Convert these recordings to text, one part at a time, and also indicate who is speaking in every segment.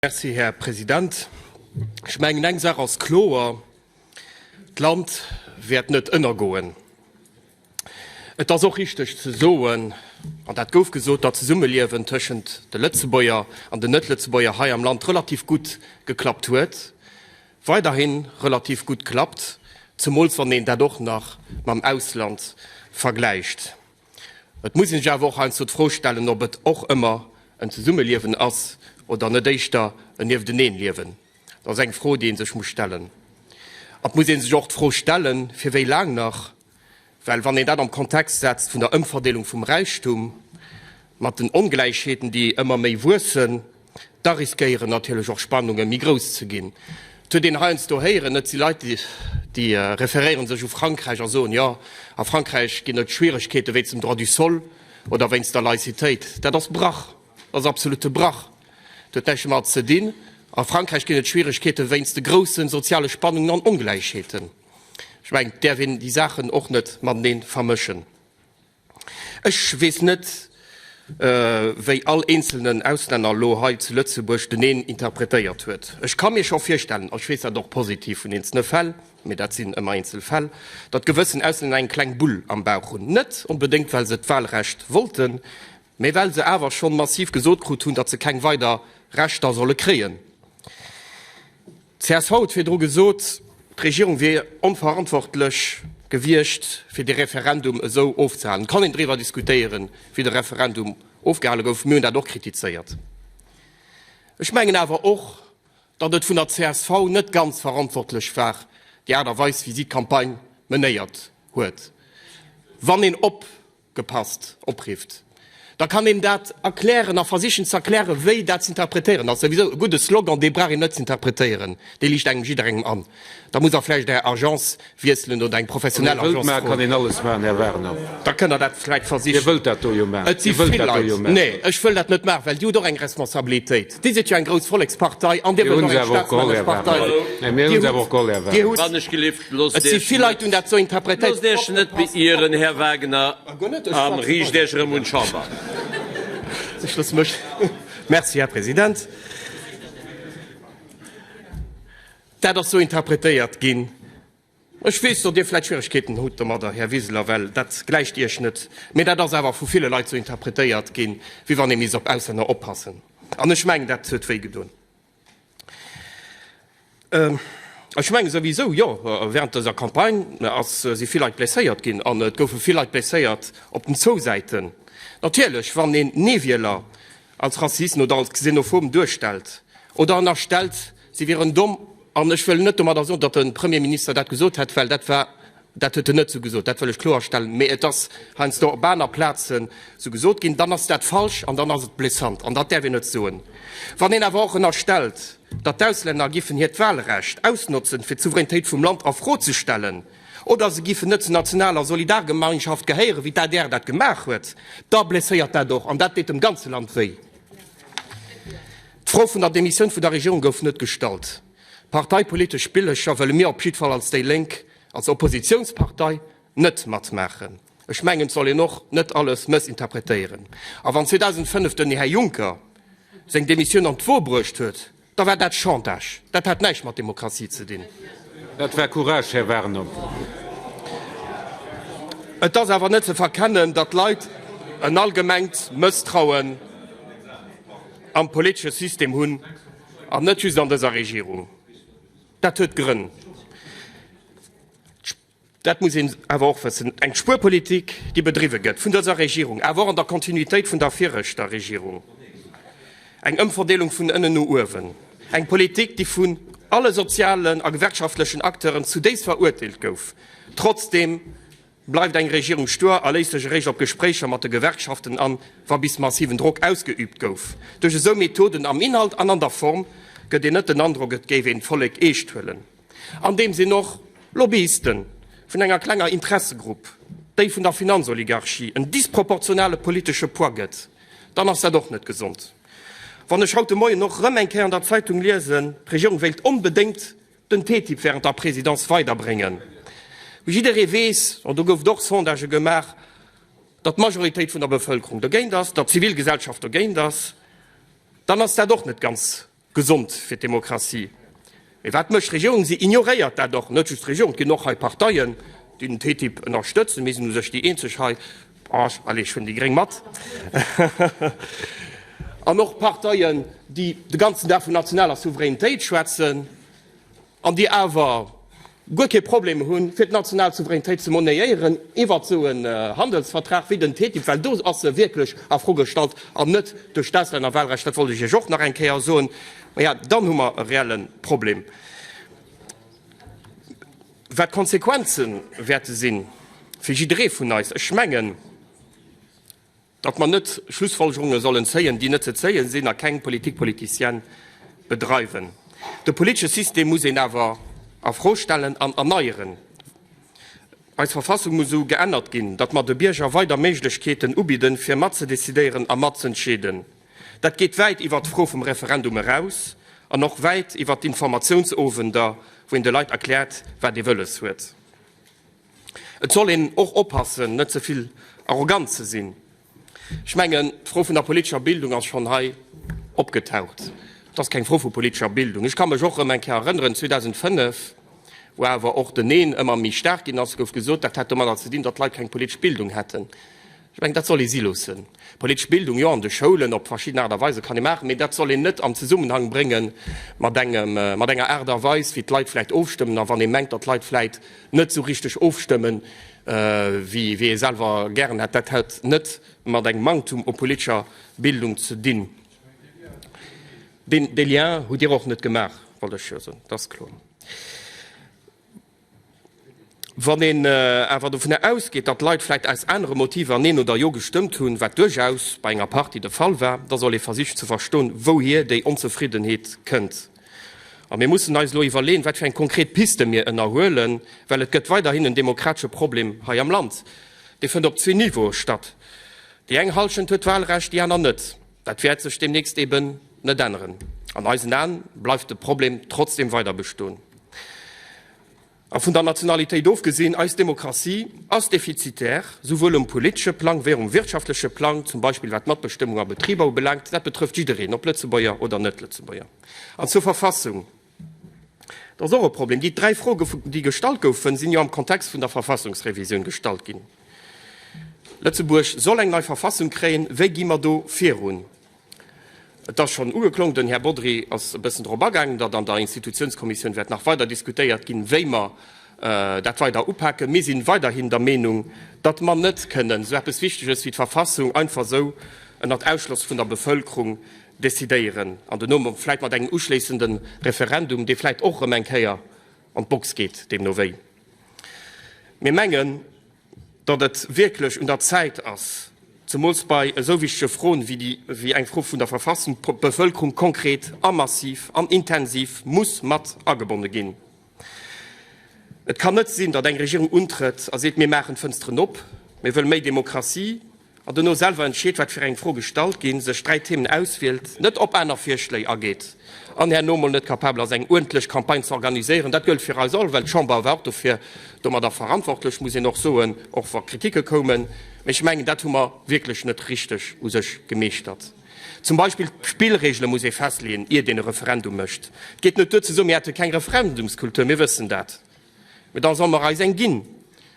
Speaker 1: Merci, Här President. Ech mengen, eng Saach ass kloer, D'Land wäert net ënnergoen. Et ass och richteg ze soen, an dat gouf gesot, datt d'Zesummeliewen tëschent de Lëtzebuerger an den Net-Lëtzebuerger hei am Land relativ gutt geklappt huet, weiderhi relativ gutt klappt, zemools wann een dat och nach mam Ausland vergläicht. Et muss een sech awer och heiansdo d'Fro stellen, ob et och ëmmer en Zesummeliewen ass oder net éischter en Niefteneen-Liewen. Dat ass eng Fro, déi ee sech muss stellen. An et muss ee sech och d'Fro stellen, fir wéi laang nach? Well wann een dat am Kontext setzt vun der Ëmverdeelung vum Räichtum, mat den Ongläichheeten, déi ëmmer méi wuessen, Da riskéieren natierlech och Spannunge méi grouss ze ginn. Et huet een heiansdo héieren, et si Leit, déi referéiere sech u Frankräich a soen, jo, a Frankräich ginn et Schwieregkeete wéinst dem Droit du sol oder wéinst der Laïcitéit. Dat ass Brach, dat ass absolute Brach. Dat huet näischt domat ze dinn. A Frankräich ginn et Schwieregkeete wéinst de grousse soziale Spannungen an Ongläichheeten. Ech mengen, et däerf een déi Saachen och net matenee vermëschen. Ech weess net, wéi all eenzelnen Auslänner elo hei zu Lëtzebuerg den een interpretéiert huet. Ech ka mir scho virstellen, a ech weess dat och positiv vun eenzelne Fäll, mee dat sinn ëmmer eenzel Fäll, datt gewëssen Auslänner eng kleng Bull am Bauch hunn, net onbedéngt, well se d'Wahlrecht wollten, mee well se awer schonn massiv gesot krut hunn, datt se keng weider Rechter solle kréien. Csv huet virdru gesot, d'Regierung wier onverantwortlech gewiescht, fir dee Referendum esou ofzehalen. Et kann een driwwer diskutéieren, wéi de Referendum ofgehale gouf. Mir hunn dat och kritizéiert. Ech mengen awer och, datt et vun der csv net ganz verantwortlech war, déi Aart a Weis, wéi si d'Campagne menéiert huet. Wann een op. gepasst oprifft, da kann een dat erklären a versichen ze erklären, wéi dat z'interpretéieren ass. Souwisou e gudde Slogan, dee brauch een net z'interpretéieren, dee liicht engem jidderengem an. Da muss Der vläicht Är Agence wiesselen oder eng professionell Agence froen. Wann Dir wëllt maachen, kann een
Speaker 2: alles maachen, Här Warner. Da kënn Der dat vläicht
Speaker 1: versichen. Dir wëllt dat do jo maachen. Et
Speaker 2: si vill Leit. Nee,
Speaker 1: ech wëll dat net maachen, well Dir hutt och eng Responsabilitéit. Dir sidd jo eng grouss Vollekspartei an Dir wëllt och eng Staatsmänneschpartei.
Speaker 2: Dir hutt awer och Gold erwaart.
Speaker 3: Et si vill Leit hunn dat esou
Speaker 1: interpretéiert. Loosst Iech net beieren,
Speaker 3: Här Wagner, a riicht Iech erëm un d'Chamber. Ech loosse mech.
Speaker 1: Merci, Här President. Dat ass esou interpretéiert ginn. Ech weess, datt Dir vläit Schwieregkeeten hutt domadder, Här Wiseler, well dat gläicht Iech net. Mee dat ass awer vu ville Leit sou interpretéiert ginn, wéi wann ee misst op Auslänner oppassen. An ech mengen, dat huet wéi gedoen. Ech menge souwisou, jo, während dëser Campagne si vill Leit blesséiert ginn an et goufe vill Leit blesséiert op den zwou Säiten. Natierlech, wann een Nee-Wieler als Rassisten oder als Xenophoben duerstellt oder ënnerstellt, Si wieren domm. An ech wëll net domadder soen, datt de Premierminister dat gesot hätt, well dat war, dat huet en net esou gesot, dat wëll ech kloerstellen, mä et ass heiansdo op aner Plazen esou gesot ginn, dann ass dat falsch an dann ass et blessant an dat däerf een net soen. Wann een awer och ënnerstellt, datt d'Auslänner giffen hiert Wahlrecht ausnotzen, fir d'Souveränitéit vum Land a Fro ze stellen oder se giffen net zur nationaler Solidargemeinschaft gehéieren, wéi d'ADR dat gemaach huet, da blesséiert dat och an dat deet dem ganze Land wéi. D'Fro vun der Demissioun vun der Regierung gouf net gestallt. Parteipolitesch Spillercher wëlle mir op jiddwer Fall als déi Lénk, als Oppositiounspartei, net matmaachen. Ech mengen, et soll een och net alles mëssinterpretéieren. A wann 2005 den Här Juncker seng Demissioun an d'Wuer bruecht huet, da war dat Chantage. Dat hat näischt mat Demokratie ze dinn. Dat war
Speaker 2: Courage, Här Warner.
Speaker 1: Et ass awer net ze verkennen, datt d'Leit en allgemengt Mësstrauen. am politesche System hunn, an net just an dëser Regierung. Dat huet Grënn, dat muss een awer och wëssen. Eng Spuerpolitik, déi bedriwwe gëtt vun dëser Regierung, awer och an der Kontinuitéit vun der viregter Regierung, eng Ëmverdeelung vun ënnen no uewen, eng Politik, déi vun alle sozialen a gewerkschaftlechen Acteuren zudéifst verurteelt gouf, trotzdem Bleift eng Regierung stuer a léisst sech eréischt op Gespréicher mat de Gewerkschaften an, wa bis massiven Drock ausgeüübt gouf? Duerch esou Methoden am Inhalt an an der Form gëtt een net den Androck, et géif een d'Vollek eescht huelen. Andeem sinn och Lobbyisten vun enger klenger Interessegrupp, déi vun der Finanzoligarchie, en disproportionale politesche Poids gëtt, dann ass dat och net gesond. Wann ech haut de Moien och erëm eng Kéier an der Zeitung liesen, d'Regierung wéilt onbedéngt, den TTIP während der Présidence weiderbréngen. Wéi jidderee weess, an do goufen och Sondagë gemaach, datt d'Majoritéit vun der Bevëlkerung dogéint ass, datt d'Zivilgesellschaft dogéint ass, dann ass dat och net ganz gesond fir d'Demokratie. Mee wat mécht d'Regierung? Si ignoréiert dat och. Net just d'Regierung, et ginn och hei Parteien, déi den TTIP ënnerstëtzen, mee sinn u sech déi eenzeg hei, Branche, allez, ech hunn déi Gréng mat, an och Parteien, déi de ganzen Dag vun nationaler Souveränitéit schwätzen an déi awer guer kee Problem hunn, fir d'national Souveränitéit ze monnéieren iwwert esou en Handelsvertrag wéi den TTIP, well do ass se wierklech a Fro gestallt an net duerch d'Auslännerwahlrecht. Dat wollt ech Iech och nach eng Kéier soen. Maja, dann hu mer e reelle Problem. Wat d'Konsequenze wäerte sinn, fir jidderee vun eis, ech mengen, datt mer net Schlussfolgerunge sollen zéien, déi net ze zéie sinn, a keng Politique politicienne bedreiwen. De politesche System muss een awer a Fro stellen an erneieren. Eis Verfassung muss esou geännert ginn, datt mer de Bierger weider Méiglechkeeten ubidden, fir mat ze decidéieren a mat z'entscheeden. Dat geet wäit iwwert d'Fro vum Referendum eraus an och wäit iwwert d'Informatiounsowender, wou een de Leit erkläert, wat ee wëlles huet. Et soll een och oppassen, net ze vill arrogant ze sinn. Ech mengen, d'Fro vun der politescher Bildung ass schonn hei opgetaucht. Et ass keng Fro vu politescher Bildung. Ech ka mech och erëm eng Kéier erënneren, 2005, wou awer och den Neen ëmmer méi staark ginn ass, gouf gesot, dat hätt domadder ze dinn, datt d'Leit keng politesch Bildung hätten. Ech mengen, dat soll ee si loossen. Politesch Bildung, jo, an de Schoulen op verschidden Aart a Weise kann ee maachen, mee dat soll een net am Zesummenhang brénge mat engem, mat enger Aart a Weis, wéi d'Leit vläicht ofstëmmen a wann ee mengt, datt d'Leit vläicht net esou richteg ofstëmme wéi ee selwer gären hätt. Dat hätt net mat engem Manktum u politescher Bildung ze dinn. Deen, dee Lien hutt Dir och net gemaach, wollt ech jo soen, dat ass kloer. Wann een awer dovun ausgeet, datt Leit vläicht aus anere Motiver Neen oder Jo gestëmmt hunn, wat duerchaus bei enger Partie de Fall war, da soll ee versichen ze verston, wouhier déi Onzefriddenheet kënnt. A mir mussen eis elo iwwerleeën, wat fir eng konkret Piste mir ënnerhuelen, well et gëtt weiderhin en demokratesche Problem hei am Land. Dee fënnt op zwee Niveaue statt. Déi eng Hallschent huet d'Walrecht, déi aner net. Dat wäert sech deemnächst eben net änneren. An eisen Aen bleift de Problem trotzdeem weider bestoen. A vun der Nationalitéit ofgesinn, eis Demokratie ass defizitär, souwuel um politesche Plang wéi och um wirtschaftleche Plang, zum Beispill wat d'Matbestëmmung a Betriber ubelaangt. Dat betrëfft jiddereen, ob Lëtzebuerger oder Net-Lëtzebuerger. An zur Verfassung. Dat ass och e Problem. Déi dräi Froge, déi gestallt goufen, sinn jo am Kontext vun der Verfassungsrevisioun gestallt ginn. Lëtzebuerg soll eng nei Verfassung kréien. Wéi gi mer do virun? Et ass schonn ugeklongen, den Här Bodry ass e bëssen drop agaangen, datt an der Institutionskommissioun wäert nach weider diskutéiert ginn, wéi mer dat weider upaken. Mir si weiderhin der Meenung, datt mer net kënnen esou eppes Wichteges wéi d'Verfassung einfach esou ënnert Ausschloss vun der Bevëlkerung decidéieren an den Nom, vläit mat engem uschléissende Referendum, dee vläit och erëm eng Kéier an d'Box geet, deemno wéi. Mir mengen, datt et wierklech un der Zäit ass, zemools bei esou wichtege Froen wéi eng Fro vun der Verfassung, d'Bevëlkerung konkret a massiv an intensiv muss mat agebonne ginn. Et kann net sinn, datt eng Regierung untrëtt a seet, mir maachen d'Fënsteren op, mir wëlle méi Demokratie, an dono selwer entscheet, wat fir eng Froe gestallt ginn, sech dräi Themen auswielt, net op aner Virschléi ageet an herno mol net kapabel ass, eng uerdentlech Campagne ze organiséieren. Dat gëllt fir eis all, well d'Chamber war och dofir domadder verantwortlech, muss een och soen, och wa Kritike koumen. Mee ech mengen, dat hu mer wierklech net richteg u sech gemeeschtert. Zum Beispill d'Spillregele muss ee festleeën, iert een e Referendum mécht. Et geet net duer ze soen, mir hätte keng Referendumskultur, mir wëssen dat, mä da solle mer eis eng ginn.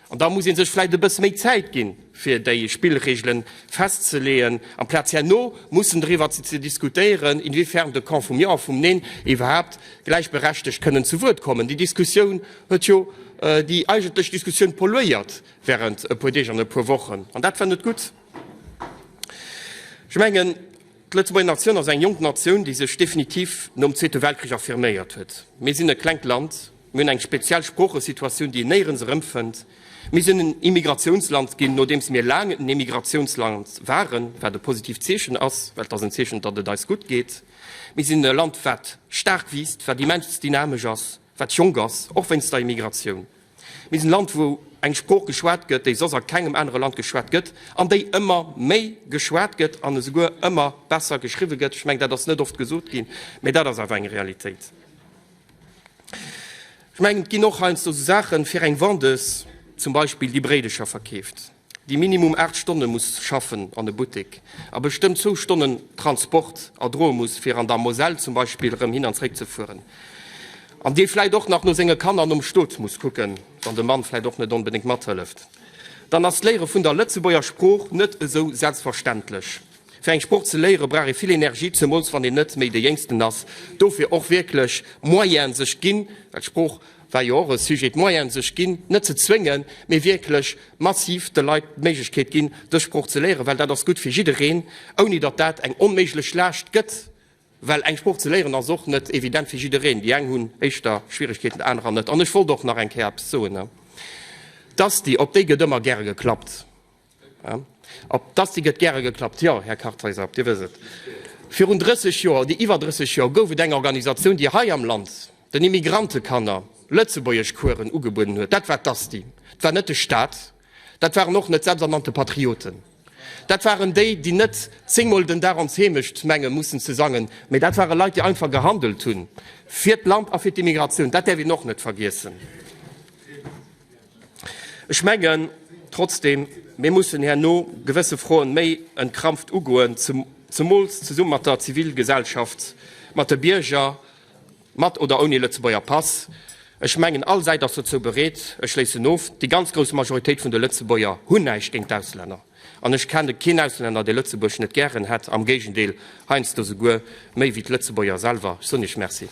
Speaker 1: An da muss ee sech vläicht e bësse méi Zäit ginn, fir déi Spillregele festzeleeën, amplaz herno mussen driwwer ze diskutéieren, inwiefern de Camp vum Jo a vum Neen iwwerhaapt gläichberechtegt kënnen zu Wuert kommen. Déi Diskussioun huet jo déi eigentlech Diskussioun polluéiert während e puer Deeg an e puer Wochen, an dat war net gutt. Ech mengen, d'Lëtzebuerger Natioun ass eng jonk Natioun, déi sech definitiv nom Zweete Weltkrich affirméiert huet. Mir sinn e klengt Land, mir hunn eng speziell Sproochesituatioun, déi een néierens erëmfënnt. Mir sinn en Immigratiounsland ginn, nodeems mir laang en Emigratiounsland waren, wat e positiivt Zeechen ass, well et ass en Zeechen, datt et eis gutt geet. Mir sinn e Land, wat staark wiisst, wat immens dynamesch ass. wat jonk ass, och wéinst der Immigratioun. Mir sinn e Land, wou eng Sprooch geschwat gëtt, déi soss a kengem anere Land geschwat gëtt an déi ëmmer méi geschwat gëtt an esouguer ëmmer besser geschriwwe gëtt. Ech mengen, dat ass net oft gesot ginn, mä dat ass awer eng Realitéit. Ech mengen, et ginn och heiansdo esou Saachen, fir eng Vendeuse zum Beispill, déi Bréidecher verkeeft. déi minimum 8 Stonne muss schaffen an e Buttek a bestëmmt zwou Stonnen Transport erdroe muss, fir an der Moselle zum Beispill erëm hin an zréck ze fueren, an dee vläit och nach no senge Kanner nom Stot muss kucken, wann de Mann vläit och net onbedéngt mathëlleft, dann ass d'Léiere vun der Lëtzebuerger Sprooch net esou selbstverständlech. Fir eng Sprooch ze léiere brauch ee vill Energie, zemools wann een net méi de Jéngsten ass, dofir och wierklech Moyene sech ginn, well d'Sprooch, war jo och e Sujet, d'Moyene sech ginn, net ze zwéngen, mee wierklech massiv de Leit d'Méiglechkeet ginn, dës Sprooch ze léieren, well dat ass gutt fir jiddereen, ouni datt dat eng onméiglech Laascht gëtt, well eng Sprooch ze léieren ass och net evident fir jiddereen, déi eng hunn éischter Schwierigkeeten, déi anerer net. An ech wollt och nach eng Kéier eppes soen, D'Asti, op déi gëtt ëmmer gäre geklappt. Op d'Asti gëtt gäre geklappt. Jo, Här Kartheiser, Dir wësst et, virun 30 Joer oder iwwer 30 Joer gouf et eng Organisatioun, déi hei am Land den Immigrantekanner Lëtzebuergeschkueren ugebueden huet. Dat war d'Asti. Et war net de Staat. Dat waren och net d'selbsternannte Patrioten. Dat waren déi, déi net zéngmol den Dag ons Heemecht menge mussen ze sangen, mä dat ware Leit, déi einfach gehandelt hu fir d'Land a fir d'Immigratioun. Dat däerf een och net vergiessen. Ech mengen trotzdem, mir mussen herno gewësse Froen méi entkrampft ugoen, zemools zesumme mat der Zivilgesellschaft, mat de Bierger, mat oder ouni Lëtzebuerger Pass. Ech mengen, all Säit ass dozou bereet. Ech schléissen of, Déi ganz grouss Majoritéit vun de Lëtzebuerger hunn näischt géint d'Auslänner. An ech kenne keen Auslänner, dee Lëtzebuerg net gären hätt, am Géigendeel, heiansdo souguer méi wéi d'Lëtzebuerger selwer. Ech soen Iech Merci.